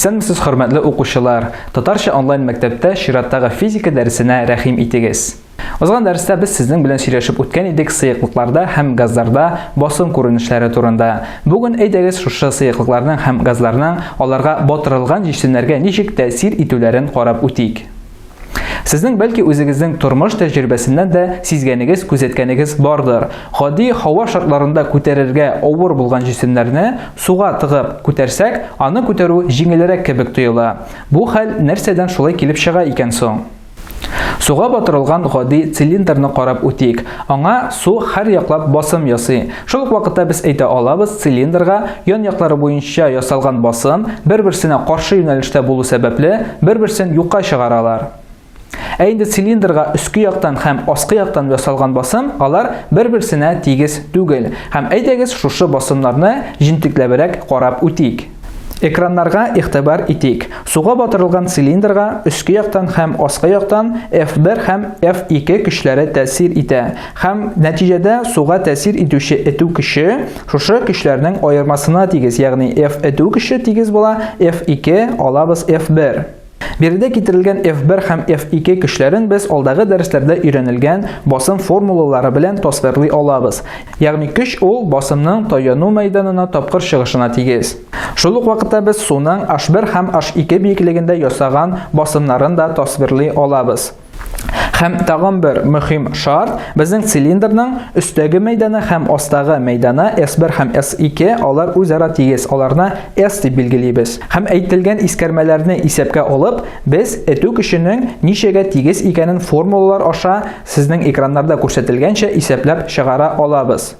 Исәнмесез хөрмәтле укучылар! Татарча онлайн мәктәптә чираттагы физика дәресенә рәхим итегез. Узган дәрестә без сезнең белән сөйләшеп үткән идек сыеклыкларда һәм газларда басым күренешләре турында. Бүген әйдәгез шушы сыеклыкларның һәм газларның аларга батырылган җисемнәргә ничек тәэсир итүләрен карап үтик. Сезнең бәлки үзегезнең тормыш тәҗрибәсеннән дә сизгәнегез, күзәткәнегез бардыр. Гади һава шартларында күтәрергә авыр булган җисемнәрне суга тыгып күтәрсәк, аны күтәрү җиңелрәк кебек тоела. Бу хәл нәрсәдән шулай килеп чыга икән соң? Суга батырылган гади цилиндрны карап үтик. Аңа су һәр яклап басым ясый. Шул ук вакытта без әйтә алабыз, цилиндрга ян яклары буенча ясалган басым бер-берсенә каршы юнәлештә булу сәбәпле, бер-берсен юкка чыгаралар. Ә инде цилиндрга өске яктан һәм аскы яктан ясалган басым, алар бер-берсенә тигез түгел. Һәм әйдәгез шушы басымнарны җентекләбрәк карап үтик. Экраннарга игътибар итик. Суга батырылган цилиндрга өске яктан һәм аскы яктан F1 һәм F2 көчләре тәэсир итә һәм нәтиҗәдә суга тәэсир итүче этү көче шушы көчләрнең аермасына тигез, ягъни F этү көче тигез була F2 алабыз F1. Биредә китерелгән F1 һәм F2 көчләрен без алдагы дәресләрдә өйрәнелгән басым формулалары белән тасвирлый алабыз. Ягъни көч ул басымның таяну мәйданына тапкыр чыгышына тигез. Шул ук вакытта без суның H1 һәм H2 биеклегендә ясаган басымнарын да тасвирлый алабыз. Һәм тагын бер мөһим шарт, безнең цилиндрның өстәге мәйданы һәм астагы мәйданы S1 һәм S2, алар үзара тигез, аларны S дип билгелибез. Һәм әйтелгән искәрмәләрне исәпкә алып, без этү көченең ничәгә тигез икәнен формулалар аша сезнең экраннарда күрсәтелгәнчә исәпләп чыгара алабыз.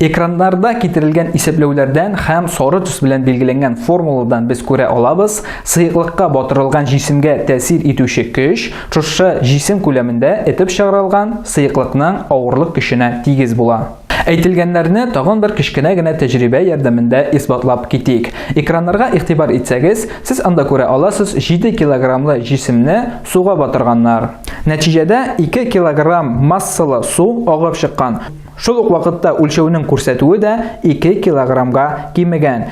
Экраннарда китерелгән исәпләүләрдән һәм сары төс белән билгеләнгән формуладан без күрә алабыз, сыеклыкка батырылган җисемгә тәэсир итүче көч шушы җисем күләмендә этеп чыгарылган сыеклыкның авырлык көченә тигез була. Әйтелгәннәрне тагын бер кечкенә генә тәҗрибә ярдәмендә исбатлап китик. Экраннарга игътибар итсәгез, сез анда күрә аласыз 7 килограммлы җисемне суга батырганнар. Нәтиҗәдә 2 килограмм массалы су агып чыккан. Шул ук вакытта үлчәүнең күрсәтүе дә 2 килограммга кимегән.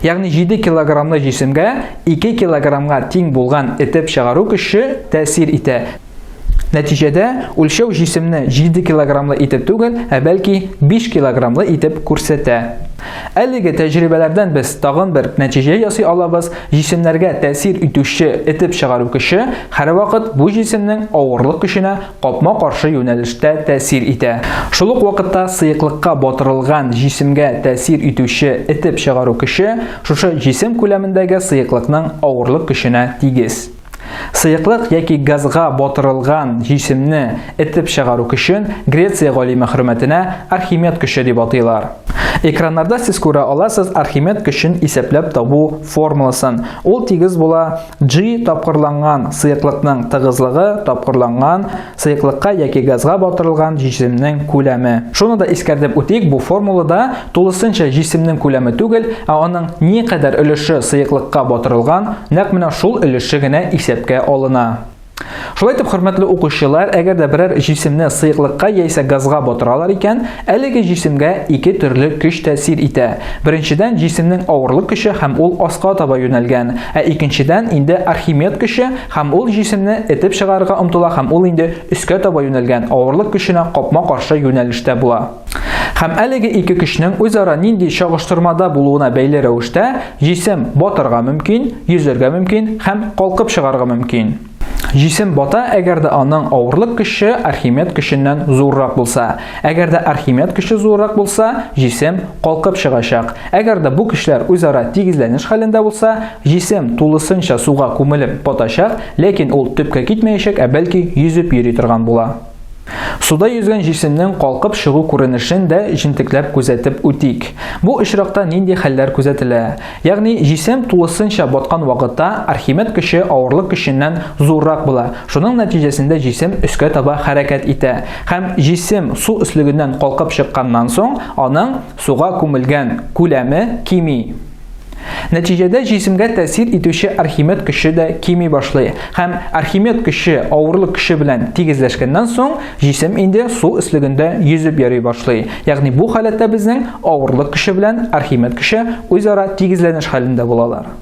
Ягъни 7 килограммлы җисемгә 2 килограммга тиң булган этеп чыгару көче тәэсир итә. Нәтиҗәдә үлчәү җисемне 7 килограммлы итеп түгел, ә бәлки 5 килограммлы итеп күрсәтә. Әлеге тәҗрибәләрдән без тагын бер нәтиҗә ясый алабыз, җисемнәргә тәэсир итүче этеп чыгару көче һәрвакыт бу җисемнең авырлык көченә капма-каршы юнәлештә тәэсир итә. Шул ук вакытта сыеклыкка батырылган җисемгә тәэсир итүче этеп чыгару көче шушы җисем күләмендәге сыеклыкның авырлык көченә тигез. Сыеклык яки газга батырылган җисемне этеп чыгару көчен Греция галиме хөрмәтенә Архимед көче дип атыйлар. Экраннарда сез күрә аласыз Архимед көчен исәпләп табу формуласын. Ул тигез була G тапкырланган сыеклыкның тыгызлыгы тапкырланган сыеклыкка яки газга батырылган җисемнең күләме. Шуны да искәртеп үтик, бу формулада тулысынча җисемнең күләме түгел, ә аның никадәр өлеше сыеклыкка батырылган, нәкъ менә шул өлеше генә исәпкә алына. Шулай итеп, хөрмәтле укучылар, әгәр дә берәр җисемне сыеклыкка яисә газга батыралар икән, әлеге җисемгә ике төрле көч тәэсир итә. Беренчедән, җисемнең авырлык көче һәм ул аска таба юнәлгән. Ә икенчедән, инде Архимед көче һәм ул җисемне этеп чыгарырга омтыла һәм ул инде өскә таба юнәлгән, авырлык көченә капма-каршы юнәлештә була. Һәм әлеге ике көчнең үзара нинди чагыштырмада булуына бәйле рәвештә җисем батарга мөмкин, йөзәргә мөмкин һәм калкып чыгарга мөмкин. Җисем бата, әгәр дә аның авырлык көче Архимед көченнән зуррак булса. Әгәр дә Архимед көче зуррак булса, җисем калкып чыгачак. Әгәр дә бу көчләр үзара тигезләнеш хәлендә булса, җисем тулысынча суга күмелеп батачак, ләкин ул төпкә китмәячәк, ә бәлки йөзеп йөри торган була. Суда йөзгән җисемнең калкып чыгу күренешен дә җентекләп күзәтеп үтик. Бу очракта нинди хәлләр күзәтелә? Ягъни, җисем тулысынча баткан вакытта Архимед көче авырлык көченнән зуррак була, шуның нәтиҗәсендә җисем өскә таба хәрәкәт итә. Һәм җисем су өслегеннән калкып чыкканнан соң, аның суга күмелгән күләме кими. Нәтиҗәдә җисемгә тәэсир итүче Архимед көче дә кими башлый һәм Архимед көче авырлык көче белән тигезләшкәннән соң, җисем инде су өслегендә йөзеп йөри башлый. Ягъни бу халәттә безнең авырлык көче белән Архимед көче үзара тигезләнеш хәлендә булалар.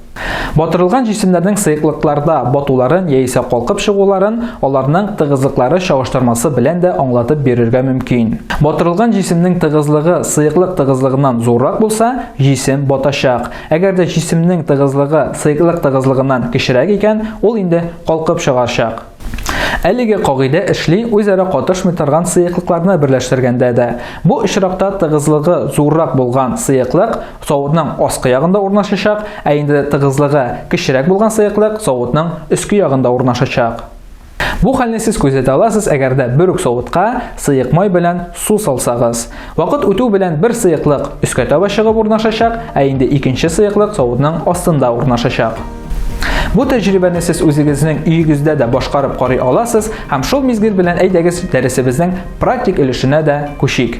Батырылган җисемнәрнең сыеклыкларда батуларын яисә калкып чыгуларын аларның тыгызлыклары чагыштырмасы белән дә аңлатып бирергә мөмкин. Батырылган җисемнең тыгызлыгы сыеклык тыгызлыгыннан зуррак булса, Җисем батачак. Әгәр дә җисемнең тыгызлыгы сыеклык тыгызлыгыннан кечерәк икән, ул инде калкып чыгарчак. Әлеге кагыйдә эшли үзара катышмый торган сыеклыкларны берләштергәндә дә. Бу очракта тыгызлыгы зуррак булган сыеклык савытның аскы ягында урнашачак, ә инде тыгызлыгы кечерәк булган сыеклык савытның өске ягында урнашачак. Бу хәлне сез күзәтә аласыз, әгәр дә бер үк савытка сыек май белән су салсагыз. Вакыт үтү белән бер сыеклык өскә таба чыгып урнашачак, ә инде икенче сыеклык савытның астында урнашачак. Бу тәҗрибәне сез үзегезнең өегездә дә башкарып карый аласыз һәм шул мизгел белән әйдәгез дәресебезнең практик өлешенә дә күчик.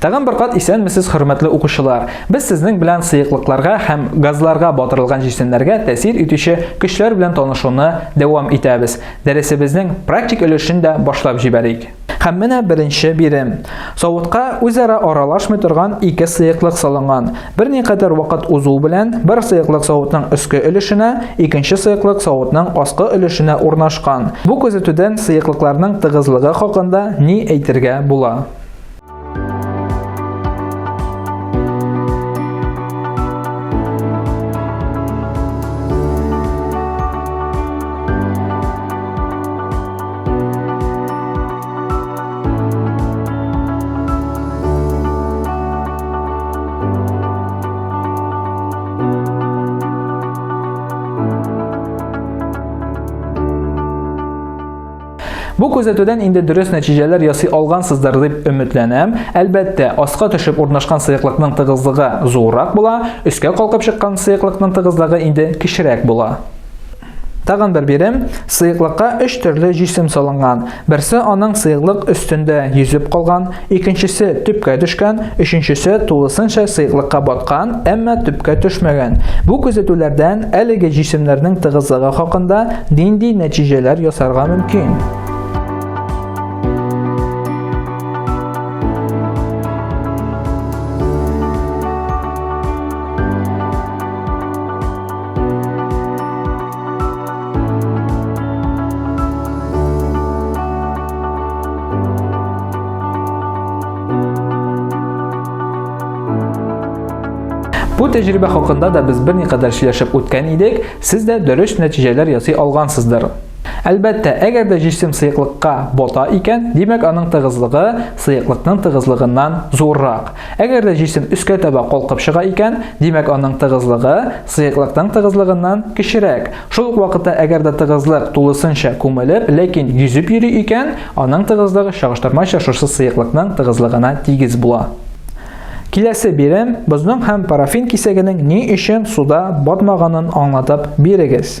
Тагын бер кат исәнмесез, хөрмәтле укучылар. Без сезнең белән сыеклыкларга һәм газларга батырылган җисемнәргә тәэсир итүче көчләр белән танышуны дәвам итәбез. Дәресебезнең практик өлешен дә башлап җибәрик. Һәм менә беренче бирем. Савытка үзара аралашмый торган ике сыеклык салынган. Берникадәр вакыт узу белән бер сыеклык савытның өске өлешенә, икенче сыеклык савытның аскы өлешенә урнашкан. Бу күзәтүдән сыеклыкларның тыгызлыгы хакында ни әйтергә була? Бу күзәтүдән инде дөрес нәтиҗәләр ясый алгансыздыр дип өметләнәм. Әлбәттә, аска төшеп урнашкан сыеклыкның тыгызлыгы зуррак була, өскә калкып чыккан сыеклыкның тыгызлыгы инде кечерәк була. Тагын бер бирем, сыеклыкка өч төрле җисем салынган. Берсе аның сыеклык өстендә йөзеп калган, икенчесе төпкә төшкән, өченчесе тулысынча сыеклыкка баткан, әмма төпкә төшмәгән. Бу күзәтүләрдән әлеге җисемнәрнең тыгызлыгы хакында нинди нәтиҗәләр ясарга мөмкин? Бу тәҗрибә хакында да без берникадәр сөйләшеп үткән идек, сез дә дөрес нәтиҗәләр ясый алгансыздыр. Әлбәттә, әгәр дә җисем сыеклыкка бота икән, димәк аның тыгызлыгы сыеклыкның тыгызлыгыннан зуррак. Әгәр дә җисем өскә таба калкып чыга икән, димәк аның тыгызлыгы сыеклыкның тыгызлыгыннан кечерәк. Шул ук вакытта әгәр дә тыгызлык тулысынча күмелеп, ләкин йөзеп йөри икән, аның тыгызлыгы чагыштырмача шушы сыеклыкның тыгызлыгына тигез була. Киләсе бирем бозның һәм парафин кисәгенең ни өчен суда батмаганын аңлатып бирегез.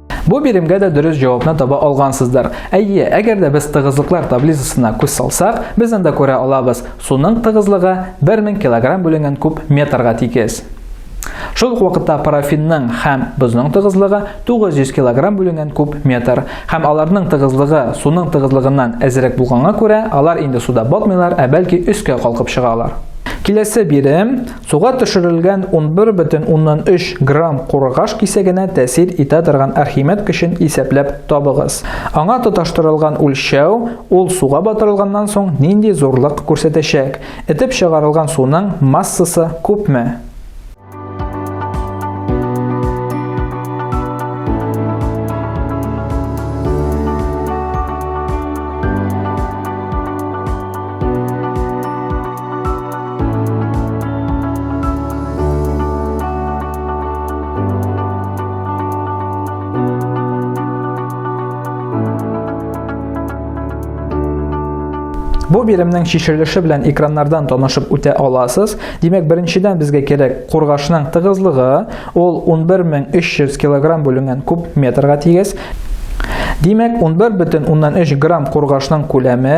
Бу биремгә дә дөрес җавапны таба алгансыздыр. Әйе, әгәр дә без тыгызлыклар таблицасына күз салсак, без анда күрә алабыз, суның тыгызлыгы 1000 кг бүленгән куб метрга тигез. Шул ук вакытта парафинның һәм бозның тыгызлыгы 900 кг бүленгән куб метр. Һәм аларның тыгызлыгы суның тыгызлыгыннан әзрәк булганга күрә, алар инде суда батмыйлар, ә бәлки өскә калкып чыгалар. Киләсе бирем Суга төшерелгән 11,3 грамм курыгаш кисәгенә тәэсир итә торган Архимед көчен исәпләп табыгыз. Аңа тоташтырылган үлчәү, ул суга батырылганнан соң нинди зурлык күрсәтәчәк? Этеп чыгарылган суның массасы күпме? Бу биремнең чишелеше белән экраннардан танышып үтә аласыз. Димәк, беренчедән безгә кирәк кургашның тыгызлыгы, ул 11300 килограмм бүленгән куб метрга тигез. Димәк, 11,3 грамм кургашның күләме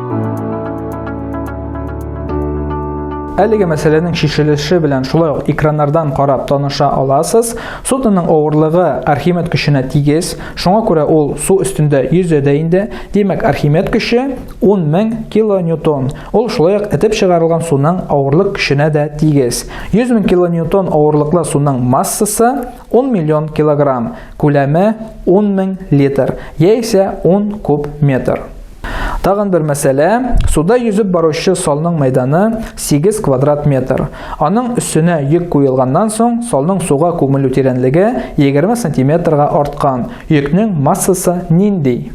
Әлеге мәсьәләнең шешелеше белән шулай ук экраннардан карап таныша аласыз. Судноның авырлыгы Архимед көченә тигез, шуңа күрә ул су өстендә йөзә дә инде. Димәк, Архимед көче 10 мең килоньютон. Ул шулай ук этеп чыгарылган суның авырлык көченә дә тигез. 100 мең килоньютон авырлыклы суның массасы 10 миллион килограмм, күләме 10 мең литр, яисә 10 куб метр. Тагын бер мәсьәлә, суда йөзеп баручы салның мәйданы 8 квадрат метр. Аның өстенә йөк куелганнан соң, салның суга күмелү тирәнлеге 20 сантиметрга арткан. Йөкнең массасы нинди?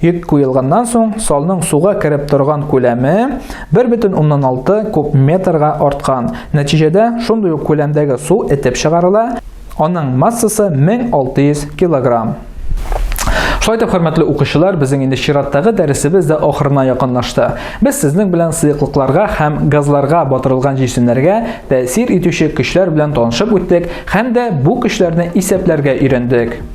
Йөк куелганнан соң, салның суга кереп торган күләме 1,6 куб метрга арткан. Нәтиҗәдә, шундый ук күләмдәге су этеп чыгарыла, аның массасы 1600 килограмм. Шулай итеп, хөрмәтле укучылар, безнең инде чираттагы дәресебез дә ахырына якынлашты. Без сезнең белән сыеклыкларга һәм газларга батырылган җисемнәргә тәэсир итүче көчләр белән танышып үттек һәм дә бу көчләрне исәпләргә өйрәндек.